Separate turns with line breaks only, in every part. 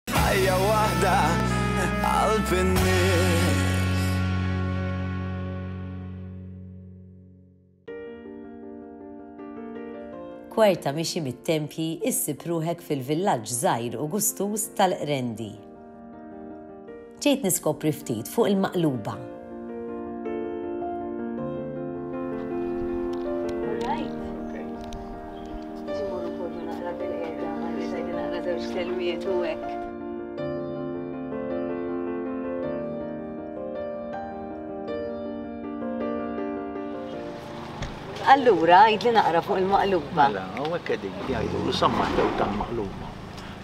Ħajja waħda qalb in-nies.
kwarta mixi mit-tempji issib ruħek fil-villaġġ żgħir u gustuż tal-Qrendi. Ġejt niskopri ftit fuq il-maqluba.
Allura, għidli naqra fuq il-maqluba. Mela, u għek għedin,
jgħidu, sammaħta u tal-maqluba.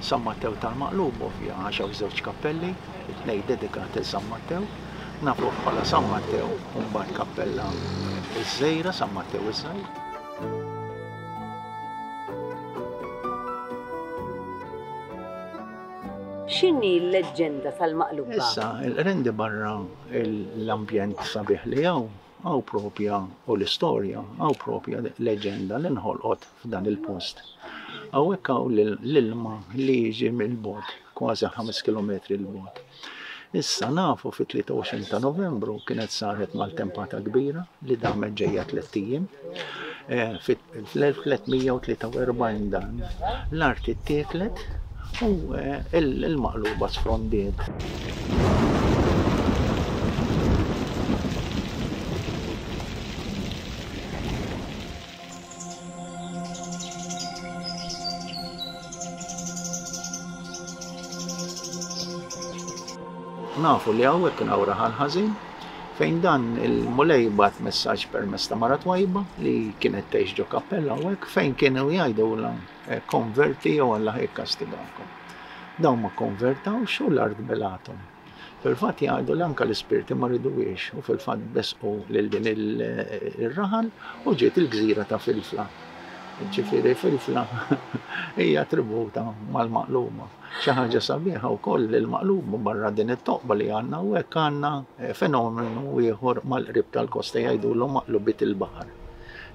San Mattew tal-Maqlub ovvja għax hawn żewġ kappelli, it-tnejn dedikati 'l San Mattew. Nafuh bħala San Mattew u mbagħad kappella ż-żgħira San Mattew iż-Żgħir.
X'inhi l-leġġenda tal-Maqlub? Issa, rendi
barra l-ambjent sabiħ li hawn, Hawn proprja, u l-istorja, hawn proprja leġenda li nħolqot f'dan il-post. Hawnhekk hawn l-ilma li jiġi mill-bogħod, kważi ħames kilometri 'l bogħod. Issa nafu fit-23 ta' Novembru kienet saret maltempata kbira li damet ġejja tlett ijiem. Fl-1343 dan l-art ittieklet u l-Maqluba sfrondiet. Nafu li hawn kien hawn raħal ħażin. fejn dan il-Mulej jibgħat messaġġ permezz ta' mara twajba li kienet tgħix ġo kappella hawnhekk fejn kienu jgħidulha eh, konverti jew Alla jikkastigakom. Dawn ma konvertawx u l-art belathom. Fil-fatt jgħidu li anka l-ispirti ma ridwiex u fil-fatt besqu lil din il-raħal u ġiet il-gżira ta' Filfla. Ġifieri Filfla hija tributa mal-maqluma. Xi ħaġa sabiħa wkoll li l-Maqlub barra din it-toqba li għandna hawnhekk għandna fenomenu ieħor mal-qrib tal-kosta jgħidulhom maqlubiet il-baħar.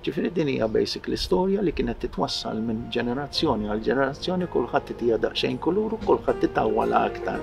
Ġifieri din hija basically storja li kienet titwassal minn ġenerazzjoni għal ġenerazzjoni kulħadd itiha daqsxejn kulur u kulħadd itawwalha aktar.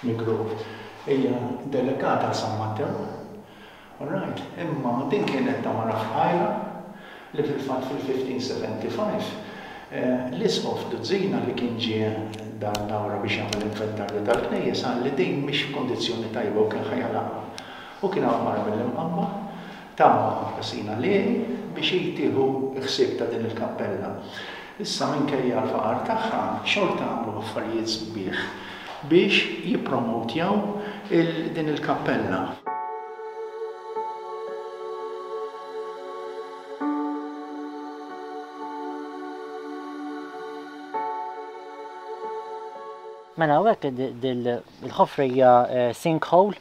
F'Migru hija delegata għal San Mattew. All right, imma din kienet ta' mara fqajra li fil-fatt fil-1575 l-Isqof Duzzina li kien ġie Dar Dawra biex jagħmel inventarju tal-knejjes qal li din mhix f'kundizzjoni tajba u kien ħa jagħlaqha. U kien hawn mara mill-Imqabba, Tama ħażina li, biex hi tieħu ħsieb ta' din il-kappella. Issa minkejja l-faqar tagħha, xorta għamlu affarijiet sbieħ biex jippromowtjaw il din il-kappella.
Mela hawnhekk din il-ħofra hija sink hole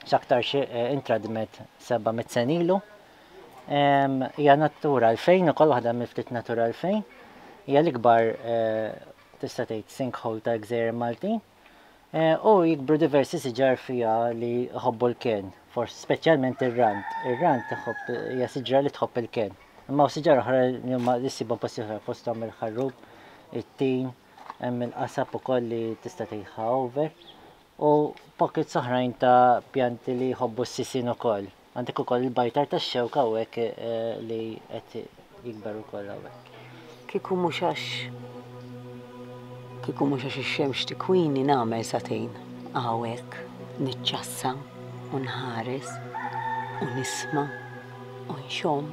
x'aktar xi intradmet 700 sen ilu. Hija natura l-fejn ukoll waħda mill-ftit natura l-fejn. Hija l-ikbar tista' tgħid sinkhole ta' gżejjer Maltin. U jikbru diversi siġar fiha li jħobbu l-ken, forsi speċjalment ir-rand. Ir-rand iħobb hija siġra li tħobb il-ken. Imma u siġar oħra li huma jissibhom posti oħra fosthom il-ħarrub, it-tin, hemm il-qasab ukoll li tista' tgħidha over. u pockets oħrajn ta' pjanti li jħobbu s-sisien ukoll. Għandek ukoll il-bajtar tax-xewk hawnhekk eh, li qed jikber ukoll hawnhekk. Kieku mhux
għax kieku mhux għax ix-xemx tikwini nagħmel satejn hawnhekk niċċassa u nħares u nisma' u nxomm.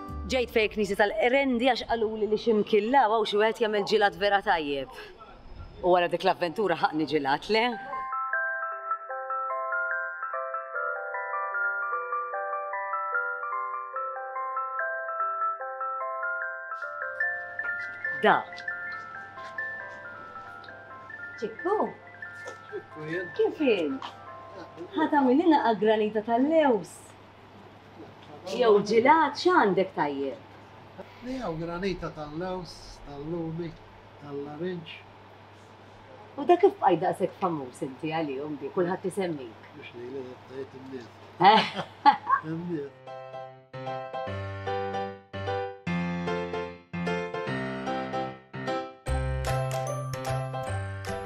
Ġejt fejn il-knisja tal-Qrendi għax qaluli li xi mkien l' hawn hawn xi wieħed jagħmel ġilgħat vera tajjeb. U wara dik l-avventura ħaqni ġilgħat, le? Da. Ċikku? Kif int? Ħa tagħmililna għall-granita tal-lews? Jew ġilat x'għandek tajjeb? Miegħu
granita tal-lewż, tal-lumi, tal-larinġ.
U dak kif bqajt daqshekk famuż inti għalihom bi kulħadd isemmik? Mhux lili dak tgħid
in-nies. In-nies.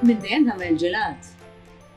Minn dejjem tagħmel ġilat?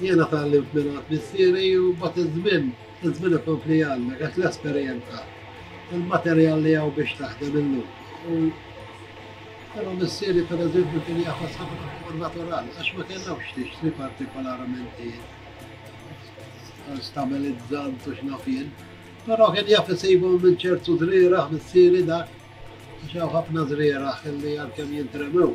Jiena tgħallimt mingħand missieri u mbagħad iż-żmien, iż-żmien ikompli jgħallmek għax l-esperjenza, il-materjal li hawn biex taħdem illum. U però missieri pereżempju kien jafas ħafna fuq natural għax ma kellhomx tixtri partikolarment stabilizzant u x'nafien. Però kien jaf isibhom minn ċertu żrieraħ missieri dak, xaw ħafna żrieraħ li għalkemm jintremew.